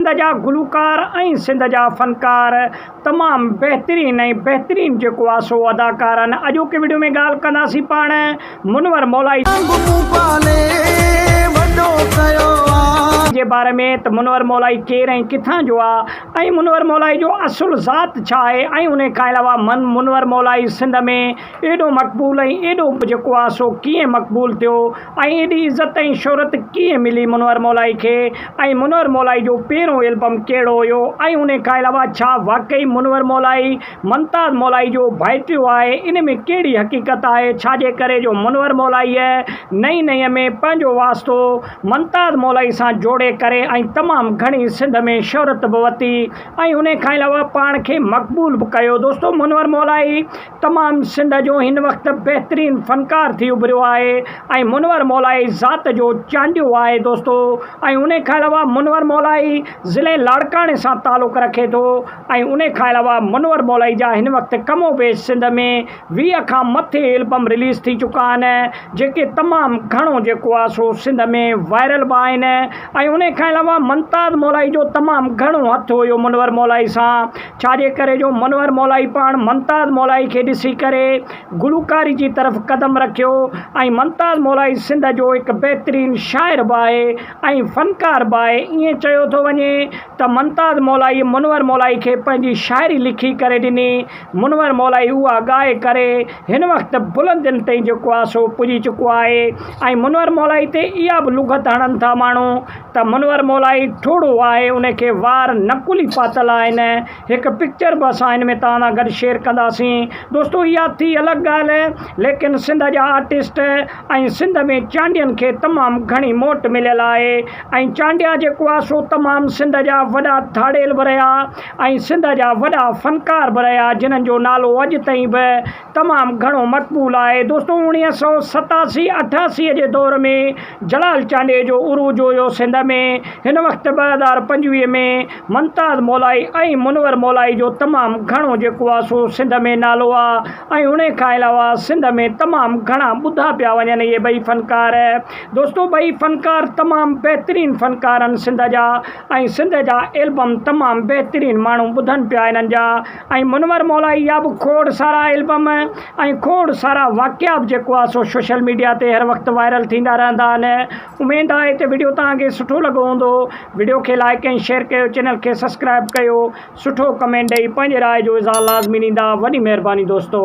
سنڌ جا گلوڪار ۽ سنڌ جا فنڪار تمام بهترين ۽ بهترين جيڪو آ سو ادا ڪارن اڄوڪي وڊيو ۾ ڳالھ ڪنداسين پاڻ منور مولائي جي باري ۾ ته منور مولائي ڪير ۽ ڪٿان جو آ ۽ منور مولائي جو اصل ذات ڇا آهي ۽ انهي کان علاوه منور مولائي سنڌ ۾ ايڏو مقبول ۽ ايڏو جيڪو آ سو ڪيئن مقبول ٿيو ۽ ايڏي عزت ۽ شهرت ڪيئن ملي منور مولائي کي ۽ منور مولائي جو پهريون البم ڪهڙو هيو ۽ انهي کان علاوه ڇا واقعي منور مولائي ممتاز مولائي جو ڀائٽيو آهي ان ۾ ڪهڙي حقيقت آهي ڇاجي ڪري جو منور مولائي نئين نئين ۾ پنهنجو واسطو ممتاز مولائي سان جوڙي ڪري ۽ تمام گهڻي سنڌ ۾ شهرت به وتي ۽ انهي کان علاوه پاڻ کي مقبول به ڪيو دوستو منور مولائي تمام سنڌ جو هن وقت بهترين فنڪار ٿي اڀريو آهي ۽ منور مولائي ذات جو چانڊيو آهي دوستو ۽ ان کان علاوه منور مولائي ضلعي لاڙڪاڻي سان تعلق رکي ٿو ۽ ان کان علاوه منور مولائي جا هن وقت ڪم و بيش سنڌ ۾ ويهه کان مٿي البم رليز ٿي چڪا آهن جيڪي تمام گهڻو جيڪو آهي سو سنڌ ۾ وائرل به آهن ۽ ان کان علاوه ممتاز مولائي جو تمام گهڻو هٿ هيو منور مولائي سان ڇاجي ڪري جو منور مولائي پاڻ ممتاز مولائي کي ڏسي ڪري گلوڪاري جي طرف قدم رکيو ۽ ممتاز مولائي سنڌ جو هڪ بهترين شاعر به آهي ۽ فنڪار به آهي ائين چيو ٿو وڃي ته ممتاز مولائي منور مولائي کي پنهنجي شاعري لکي ڪري ڏني منور مولائي اها ڳائي ڪري هن وقت بلندين تائين جيڪو آهي سو پڄي چڪو آهي ۽ منور مولائي تي اها به لغت هڻن ٿا ماڻهو ته منور مولائي ٺوڙهو آهي ان کي وار نه کلي پاتل آهن هڪ پڪچر به اسان ان ۾ توهان سان گڏ شيئر ڪنداسين دوستو اها ٿي الڳ ڳالهه ليڪن سنڌ جا آرٽسٽ ۽ سنڌ ۾ چانڊين کي تمام گهڻي موٽ مليل آهي ۽ چانڊيا جيڪو آهي سو تمام سنڌ جا وڏا ڌاڙيل به رهيا ۽ سنڌ جا وڏا فنڪار به رهيا جنهن جو نالو اڄ تائين به تمام گهڻو مقبول آهي. دوستو اوڻيهه سئو ستاسي اٺاسي جي دور ۾ جلال چانڊيي جو عروج هيو سنڌ ۾ هن وقت ٻه هزار پنجويهه ۾ ممتاز مولائي ۽ منور مولائي جو تمام گهڻو جيڪو آ سو سنڌ ۾ نالو آ ۽ انهي کان علاوه سنڌ ۾ تمام گهڻا ٻڌا پيا وڃن اهي ٻئي فنڪار دوستو ٻئي فنڪار تمام بهترين فنڪارن سنڌ جا ۽ سنڌ جا البم تمام بهترين ماڻهو ٻڌن پيا انهن جا ۽ منور مولائي جا به کوڙ سارا البم ۽ کوڙ سارا واقعا به جيڪو آ سو سوشل ميڊيا تي هر وقت وائرل ٿيندا رهندا آهن اميد آهي ته وڊيو توهان کي سٺو لڳو هوندو وڊيو کي لائڪ ۽ شيئر ڪيو چينل کي سبسڪرائب ڪيو سٺو ڪمينٽ ڏئي پنهنجي راء جو اظهار لازمي ڏيندا وڏي مهرباني دوستو.